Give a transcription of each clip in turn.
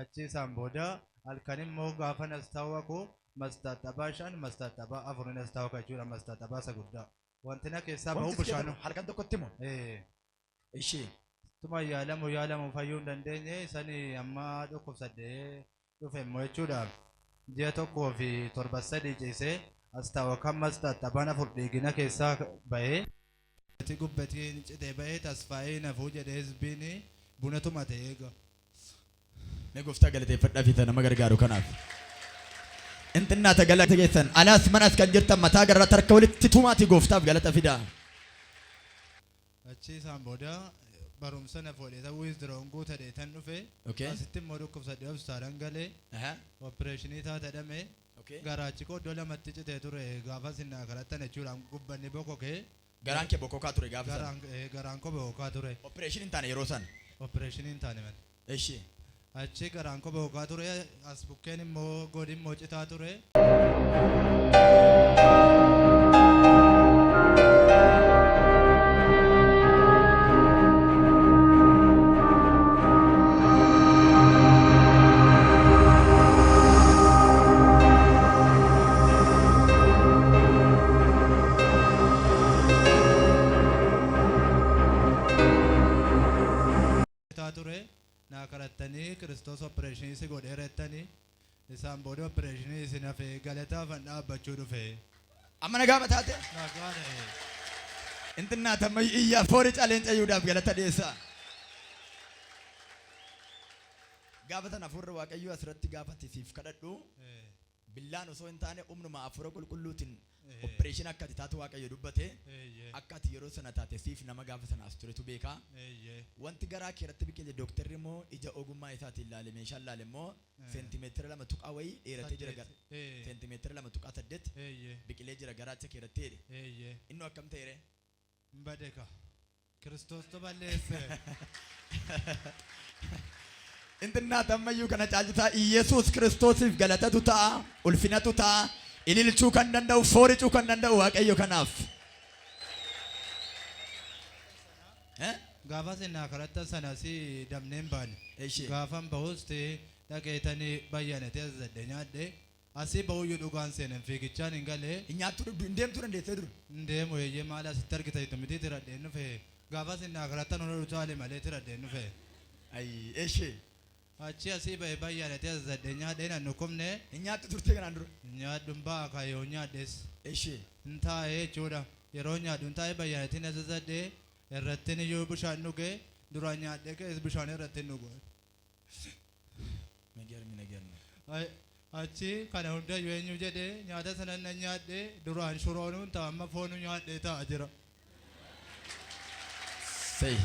Achii isaan booda halkan immoo gaafa nastaawa koo mastaaxabaa shan mastaaxabaa afur ni nastaawa ka jechuudha mastaaxabaa isa guddaa. Wanti na keessaa bahu bishaan. Halkan tokkotti moo? Ee. Ishii. Tuma yaalamu yaalamu fayyuu hin dandeenye sani amma dhukkubsadhee dhufe immoo jechuudha. Ji'a tokkoo fi torba sadii ciisee astaawa kan mastaaxabaan afur dhiigina keessaa bahee. Ati gubbetii hin citee bahee tasfaayee hin hafuu jedhee hizbiini buna tumate eega. Mee goftaa galateeffadhafi isa nama gargaaru kanaaf. In xinnaata galata keessan. Alaas manas kan jirtan mataa garratti harka walitti tumaatii gooftaaf galata fidaa. Achii isaan booda barumsa na foodhe ta'uu withdrawn guutadhe tan dhufe Okay. asitti immoo dhukkubsadhe hospitaalan galee Aha. opereeshinii taata dhamee Garaachikoo iddoo lamatti citee ture gaafa isin naa kadhattan jechuudha gubbanni bokokee. Garaan kee bokkokaa ture gaafa sana? Garaan ee garaan koo bokokkaa ture. Operation hin taane yeroo sana? Operation hin taane malee. Eshi. Achi garaan koo bokokkaa ture as bukkeen immoo goodi immoo citaa ture. ture naa karattanii kiristoos opereeshinii si godheera jettanii Isaan booda oppireeshinii isin hafe galataafan dhaabbachuu dhufe. Amma nagaama taate? Nagaa ta'e. Intinnaa tammayyu iyyaa foori caleen cayuudhaaf galata dhiyeessaa. Gaafa sana hafuurri Waaqayyoo asirratti gaafati siif kadhadhu Eh, billaan osoo hin taane humnuma hafuura qulqulluutiin Operation akka ati taatu waaqayyo dubbate Eeyyee. akka ati yeroo sana taate siif nama gaafa sana as turetu beeka Eeyyee. wanti garaa kee irratti biqile doktarri immoo ija ogummaa isaatiin laale meeshaan laale immoo Ee. seentimeetira lama tuqaa wayii dheeratee jira gara Saddeet. Ee. seentimeetira lama tuqaa saddeet Eeyyee. biqilee jira garaacha kee irratti jedhe Eeyyee. innoo akkam ta'e ree? Hin bade kaa. Kiristoostu balleesse. Intinnaata ammayyuu kana caalchisaa Iyyasuus Kiristoosiif galatatu ta'a, ulfinatu ta'a, ililchuu kan danda'u, fooricuu kan danda'u Waaqayyo kanaaf. Eh? Gaafa sinaa kadhatta sana si damneen baane. Eshi. Gaafan bahus ti dhaqeetanii bayyanatee azadde nyaadhe Asii ba'uyyuu dhugaan seene hin fiigichaan hin gale. Hin nyaattuu dhugduu hin deemtuu dandeessee dur. Hin deemu eeyyee maali asitti argita jettu mitii tiradheen dhufe gaafas inni akhirattan hona dhutaale malee tiradheen dhufe. Ayii eshee. Achii asii ba'e bayyaanati azazadhe nyaadhe hin annukkufne. Hin nyaattu turtee kanaan dura. Hin nyaadhu hin baa'a kaa yoon nyaadhes. Eshee. Hin taa'e jechuudha yeroon nyaadhu hin taa'e bayyaanatiin azazadhe irrattin iyyuu bishaan dhuge duraan nyaadhe ka'ees bishaan irrattin dhuga. Migermi negermi. Ay, Achi kana hundayyuu eenyu jedhe nyaata sana nan nyaadhe duraan shuroonuun ta'a amma foonu nyaadhe ta'a jira. Say.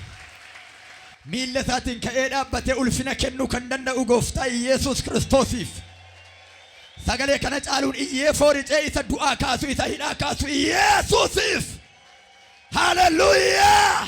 Miilla isaatiin ka'ee dhaabbatee ulfina kennuu kan danda'u gooftaa Iyeesuus Kiristoosiif. Sagalee kana caaluun iyyee fooricee isa du'aa kaasu isa hidhaa kaasu Iyeesuusiif. Haleluuyaa!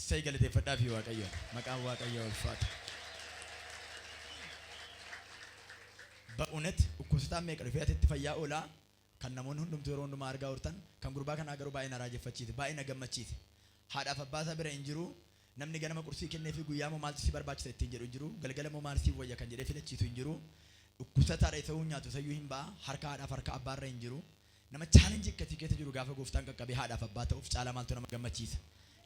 Ssay galateeffadhaafii waaqayyoon maqaan waaqayyoo ulfaatu ba'unet dhukkubsataan meeqa dhufee atitti fayyaa oolaa kan namoonni hundumtuu yeroo hundumaa argaa ooltan kan gurbaa kanaa garuu baay'ee na raajeffachiise baay'ee na gammachiise haadhaaf abbaa isaa bira hin jiruu namni ganama qursii kenneefii guyyaa immoo maaltu si barbaachisa ittiin jedhu hin jiruu galgala immoo maal siif wayya kan jedhee filachiisu hin jiruu dhukkubsataadha isa uu nyaatu isayyuu hin ba'a harka haadhaaf harka abbaarra hin jiruu Nama challenge akkasii keessa jiru gaafa gooftaan qaqqabee haadhaaf abbaa ta'uuf caalaa maaltu nama gammachiisa?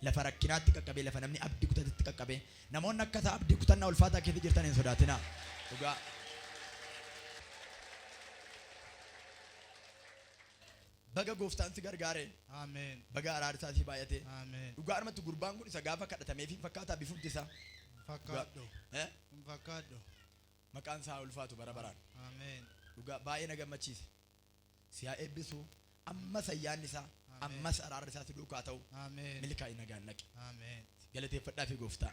Lafa rakkinaatti qaqqabee, lafa namni abdi kutatetti qaqqabee. Namoonni akka isaa abdii kutannaa ulfaataa keessa jirtan hin sodaatinaa. Dhugaa. Baga gooftaan si gargaare. Amen. Baga araarri isaa sii baay'ate. Amen. Dhugaadhumatti gurbaan kun isa gaafa kadhatameef hin fakkaataa bifumti isaa. Hin fakkaadhu. Eh? Hin fakkaadhu. Maqaan isaa haa ulfaatu bara baraan. Amen. Dhugaa baay'ee na gammachiise. si haa eebbisu ammas ayyaanni isaa Ameen. ammas araarri isaa si duukaa ta'u Ameen. milkaa'i nagaan dhaqi Ameen. galateeffadhaa fi gooftaa.